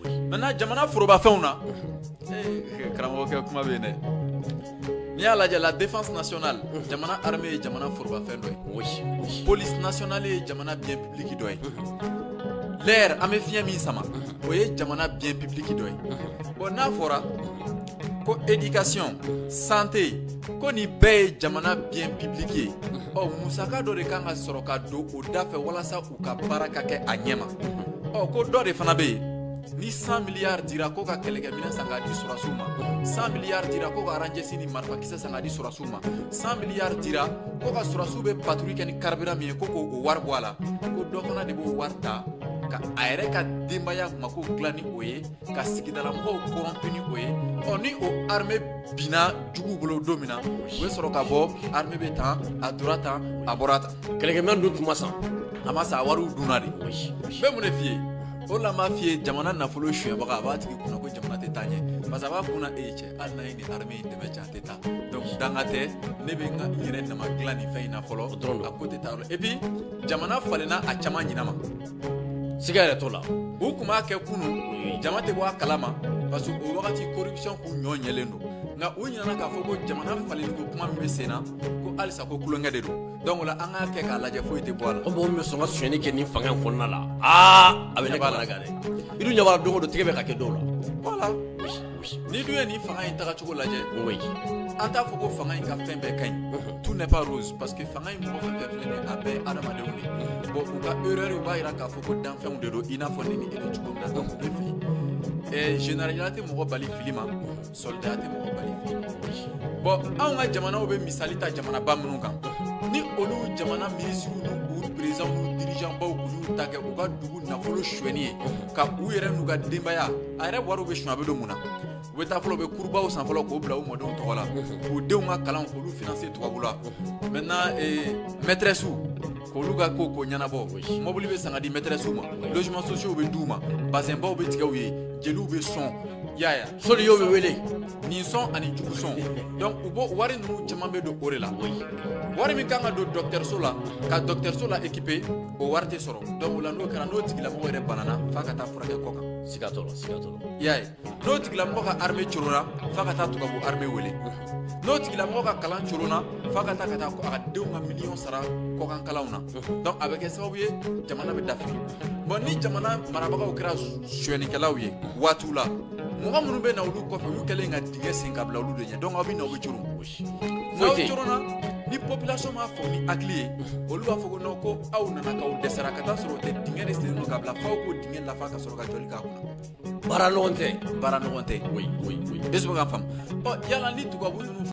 Maintenant jamana forobafɛnw na ee karamɔgɔkɛ kuma bɛ yen dɛ n'i y'a lajɛ la défense nationale jamana armée ye jamana forobafɛn dɔ ye police nationale ye jamana bien public dɔ ye l'air an bɛ fiɲɛ min sama o ye jamana bien public dɔ ye bon n'a fɔra ko éducation santé ko nin bɛɛ ye jamana bien public ye ɔ musaka dɔ de kan ka sɔrɔ ka don o da fɛ walasa u ka baara ka kɛ a ɲɛma ɔ ko dɔ de fana bɛ yen ni 100 miliyari dira ko ka kɛlɛkɛminɛn san k'a di sɔrɔsiw ma 100 miliyari dira ko ka aranjɛsi ni marifakisɛ san k'a di sɔrɔsiw ma 100 miliyari dira ko ka sɔrɔsiw bɛ patrouille kɛ ni carburant min ye ko k'o wari bɔ a la ko dɔ fana de b'o wari ta ka a yɛrɛ ka denbaya mako dilan ni o ye ka sigidalamɔgɔw corrompu ni o ye ɔ ni o arme binna juguw bolo don min na u bɛ sɔrɔ ka bɔ arme bɛ tan a dora tan a bɔra tan kɛlɛkɛminɛn dun tun ma san a ma san a wariw dunna de n bɛ mun de f'i ye o la m'a f'i ye jamana nafolo suyɛnbaga a b'a tigi kunna ko jamana tɛ taa ɲɛ parce que a b'a kunna e ye cɛ hali n'a ye nin arme in dɛmɛ cɛ a tɛ taa donc danga tɛ ne bɛ n ka n yɛrɛ nama dilan nin fɛn in na fɔlɔ a ko tɛ taa yɔrɔ et puis jamana falenna a caman ɲina ma siga yɛrɛ t'o la u tun b'a kɛ kunun jama tɛ bɔ a kalama parce que o wagati corruption kun ɲɔ ɲɛlen don nka u ɲinana k'a fɔ ko jamana falenliko kuma min bɛ sen na ko halisa ko kulonkɛ de don donc o la an k'a kɛ k'a lajɛ foyi tɛ bɔ a la. ko mɔgɔ min bɛ sɔn ka sonyɛni kɛ nin fanga in kɔnɔna la aa a bɛ ne kamana gan dɛ i dun ɲɛ b'a la don o don tigɛ bɛ ka kɛ dɔw la. voilà. n'i dun ye nin fanga in tagacogo lajɛ an t'a fɔ ko fanga in ka fɛn bɛɛ ka ɲi tout n'est pas rose parce que fanga in mɔgɔ fɛn fɛn filɛ nin a bɛɛ adamadenw de bon u ka erreurw b'a yira k'a fɔ ko danfɛnw de don i n'a fɔ ne ni e bɛ cogo min na donc ne fɛ généraliya tɛ mɔgɔ bali fili ma soldaya tɛ mɔgɔ bali fili ma bon anw ka jamanaw bɛ misali ta jamanaba minnu kan ni olu jamana minisiriw n'u présidents n'u dirigeants baw y'u ta kɛ u ka dugu nafolo suɲɛni ye ka u yɛrɛ n'u ka denbaya a yɛrɛ wariw bɛ suɲɛ a bɛ don mun na u bɛ taa fɔlɔ u bɛ kurubaw san fɔlɔ k'o bila u mɔdenw tɔgɔ la k'u denw ka kalan k'olu finanse tubabu la maintenant eh, maîtressew k'olu ka ko ko ɲɛnabɔ mɔbili bɛ san ka di maîtressew ma logements sociaux bɛ d'u ma bazɛnbaw bɛ tigɛ u ye jeliw bɛ sɔn yaya soliyo bɛ wele nin sɔn ani jugu sɔn donc u b'o wari ninnu caman bɛ don o de la wari min kan ka don dɔgɔtɔrɔso la ka dɔgɔtɔrɔso la équiper o wari tɛ sɔrɔ donc o la n'o kɛra n'o tigilamɔgɔ yɛrɛ banana f'a ka taa furakɛ kɔkan siga t'o la siga t'o la i y'a ye n'o tigilamɔgɔ ka arme coronna f'a ka taa tubabu arme wele n'o tigilamɔgɔ ka kalan coronna f'a ka taa ka taa a ka denw ka miliyɔn sara kɔkan kalanw na donc a bɛ kɛ sababu ye jamana bɛ dafiri bon ni jamana marabagaw kɛra suyɛnikɛlaw ye waatiw la mɔgɔ minnu bɛ na olu kɔfɛ olu kɛlen ka dingɛ sen ka bila olu de ɲɛ donc aw bɛ na aw bɛ coron ni population m'a fɔ ni hakili ye olu b'a fɔ ko non ko aw nana k'aw dɛsɛra ka taa sɔrɔ o tɛ dingɛ de sennen don ka bila f'aw k'o dingɛ lafa ka sɔrɔ ka jɔli k'a kunna baara nɔgɔn tɛ baara nɔgɔn tɛ oui oui oui bɛ sɔrɔ ka faamu ɔ yala ni tubabu ninnu